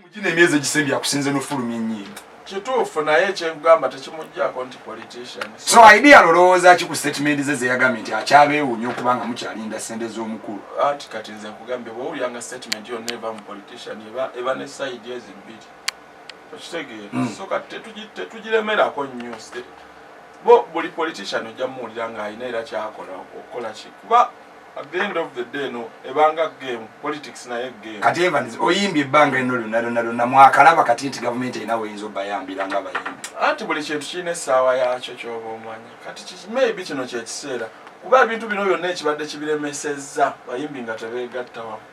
mugina emyezi egisembye akusinze nofulumya ennyimba kituufu naye ekyekugamba tekimujjako nti politician so idea lolowooza ki ku statement ze zeyagambye nti akyabeewuunya okuba nga mukyalinda sente z'omukulu anti kati nze nkugambye bwowulyanga statement yonna eva mu politician eba ne side ezi bbiri okitegeera hmm. so kati tetugiremerako nnyo bo buli politician ojja muwulira ng'alina era kyakola okukola ki kuba At the end of the day no ebanga game politics na ye game. Kati Evans oyimbye banga eno lyo nalo nalo na mwakalaba kati nti government ina wenzo bayambira nga bayimbi. Ati buli kintu kine sawa ya cho cho bomanya. Kati chi maybe kino kye kisera. Kuba bintu bino byonna ekibadde kibiremesezza bayimbi nga tebegatta wamu.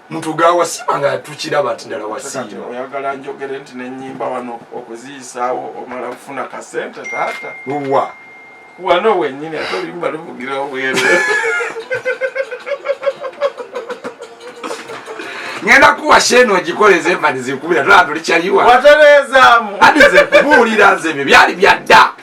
mutuga wasiima nga tukiraba nti ddala wasiima oyagala njogere nti nenyimba wano okuziyisaawo omala kufuna kasente taata wa wano wenyini ate oluyimba luvugira obweru ngenda kuwa sheeni ogikoleza emani zikubira tolaa tulikyaliwa watereezaamu adi zekubuulira nze ebyo byali byadda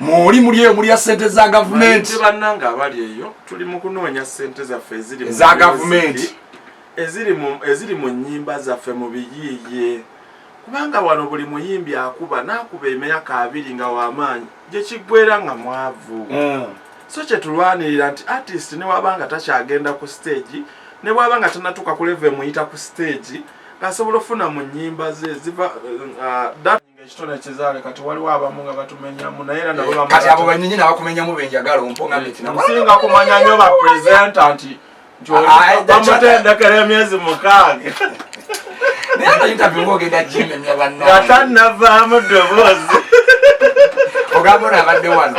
muli muli eyo mulya sente za gavumenti bannanga abali eyo tuli mu kunoonya sente zaffe eziri eza gavumenti eziri mu nnyimba zaffe mu biyiiye kubanga wano buli muyimbi akuba n'akuba emyaka abiri nga w'amaanyi gye kiggwera nga mwavu hmm. so kye tulwanirira nti artist ne waba nga takyagenda ku siteegi ne bwaba nga tanatuuka ku leve emuyita ku siteegi asobola ofuna mu nnyimba ze ziva uh, ekitone kizaale kati waliwo abamu nga batumenyamu naye era nabo kati abo banyinyi nabakumenyamu benjagala ompongasinga kumanya nyo bapresenta nti bamutendekera emyezi mukaaga naye no interview ngogenda kimenya banna nga tanavaamu ddoboozi ogamba ono abadde wano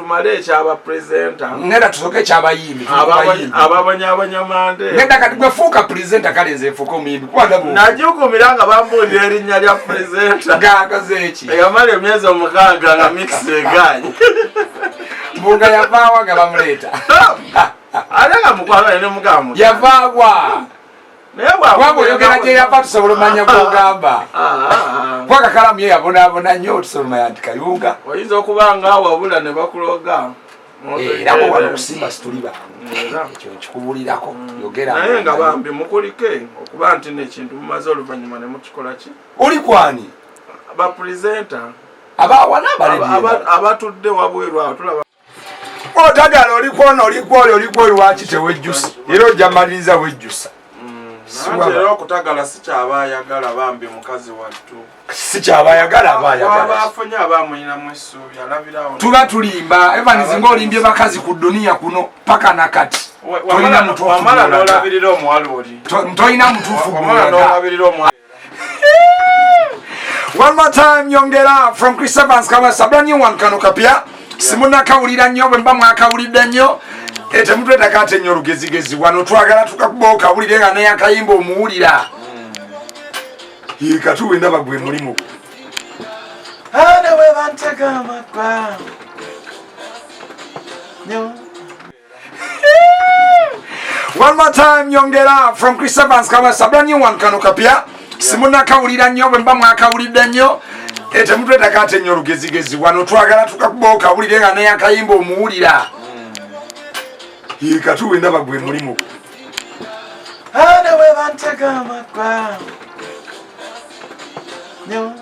tumale ekyaba presenta ngenda tusoke ekyabayimbi ababonyabonyamande ngenda kati gwefuuka presenta kale nze nfuuka omuyimbi kubanajugumira nga bambuulira erinnya lya presenta gagazeki eyamala emyezi omukaaga nga mikisi egaanyi mbuga yavaawa nga bamuleeta ate nga mukwano ne mugamu yavaawa kubanga oyogera gyeyava tusobola omanya gwogamba kubanga kalamu ye yabonabona nnyo tusoloma yanti kayunga oyinza okuba nga wabula ne bakuloga eh, era bwewala okusimba situli bangeekyo nkikubulirako mm. yogeraye nga bambi mukulike okuba nti nekintu mumaze oluvanyuma ne mukikola ki oli kwani bapurezenta abawana abatudde wabweru awo tulaba otagala olikwona olikwoli olikwoli waki tewejjusa era ojja maliriza wejjusa mm, era okutagala sikyaba ayagala bambi mukazi wattu sikyaba ayagala aba ayagalabafunye aba amulinamu essuubi alabirawo tuba tulimba evans nga olimbye bakazi ku duniya kuno paka nakati tolina mutuufu One more time nyongera from Chris Evans kama sabra new one kano kapya simuna kawulira nnyo bwe mba mwakawulidde nnyo etemutwe eh, takate nnyo olugezigezi wano twagala tukakubawo kawulire nga neyakayimba omuwulira ye katuwe ndaba gwe mulimu Hana we bantega amakwa. Nyo. One more time nyongera from Chris Evans Kawasa brand new one kano kapya simuna kawulira nnyo bwe mba mwakawulidde nnyo eh, temutwetaka ate nnyo olugezigezi wano twagala tukakuba okawulire nga neyakayimba omuwulira hmm. katuwe ndaba gwe mulimu newebantegamakwa nyo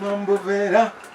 nombubeera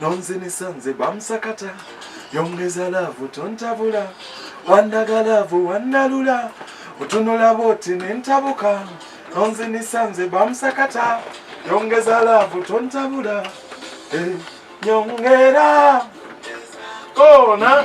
nonzinisa nze bamusakata yongeza laavu tontabula wandaga laavu wandalula otunula bwoti nentabuka nonzinisa nze bamusakata yongeza laavu tontabula eh, nyongera kona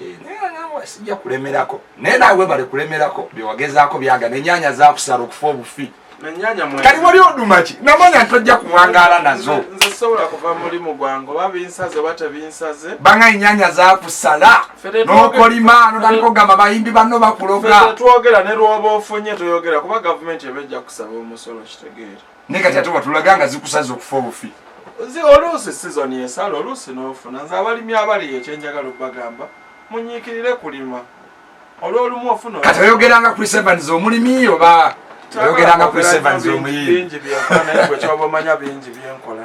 Eh, naye nga nawe sijja kulemerako naye nawe bale kulemerako byewagezaako byaga nenyanya zakusala okufa obufi kati wali odumaki namanya ntojja kuwangaala nazo banga enyanya zakusala nokolima notandika ogamba bayimbi banno bakuloga naye kati ate watulaga nga zikusaza okufa obufi oluusi sizoni esala oluusi n'ofuna nze abalimi abali ekyenjagala okubagamba munyiikirire kulima olwolumu ofuna kati oyogeranga chris evans omulimi oba oyogeranga chris evans omuyiiingi byenkola naye gwe kyoba omanya bingi byenkola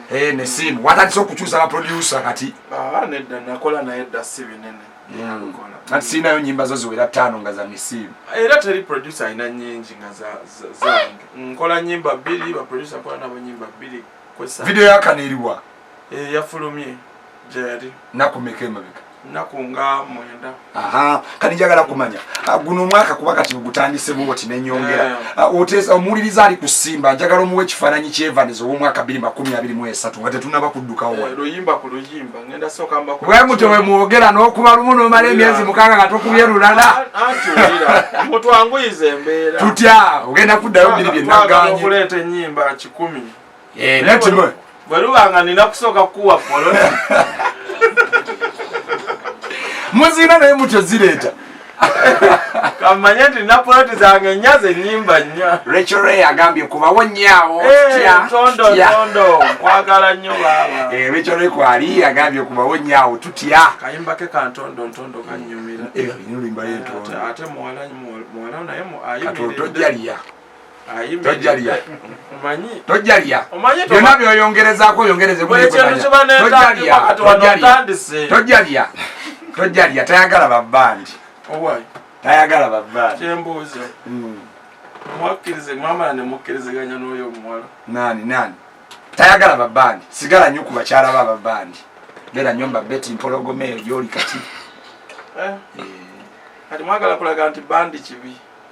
Eh, ne simu watandise okukyusa ba producer kati ah, nedda nakola naye dda si binene hmm. kati sirinayo nyimba zo ziwera ttaano nga za misiimu era teri producer alina nyingi nga zange nkola nyimba bbiri baproducer nkola nabo nyimba bbiri video yakana eriwa eh, yafulumye gyeyali nakumeka emabeka nnaku nga mwenda kati njagala kumanya ah, guno omwaka kuba kati gutandise bwoti nenyongera eh. ah, oteesa omuwuliriza ali kusimba njagala omuwa ekifaananyi kyevaniza ow'omwaka biri makumi abiri mu esatu nga tetunaba kuddukawo eh, mutyo we mwogera n'okuba lumu n'omala emyezi mukaaga nga tokubye lulala tutya ogenda kuddayo biri byenaganye Eh, bwe luba nga nina kusooka kukuwa poloti muzina naye mutyo zireeta kamanye nti napoloti zange nnya zenyimba nnya rachel ray agambye kubawo nyaawo tondotondo eh, nkwagala nnyo baaba eh, rachel ray kwali agambye kubawo nyaawo tutya kayimba ke kantondo ntondo kanyumira ate muwala naye ayimiridde tojalya tojalya byonna byoyongerezaako oyongerezetojalya tojalya tayagala babandi tayagala babandi hmm. nani nani tayagala babandi sigala nyo ku bakyala ba babandi beera nyo mbabeti mpologoma eyo gyoli kati eh. Eh. kati mwagala kulaga nti bandi kibi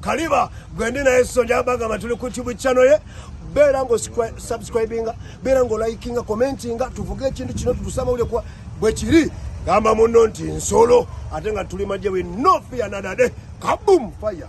kaliba gwendi naye sonja bagamba tuli ku tube channel ye beera nga osubscribinga beera nga olikinga commentinga tuvuge ekintu kino tutusamawulire kuba bwe kiri gamba munno nti nsolo ate nga tuli majje we no fear nadade kabum fire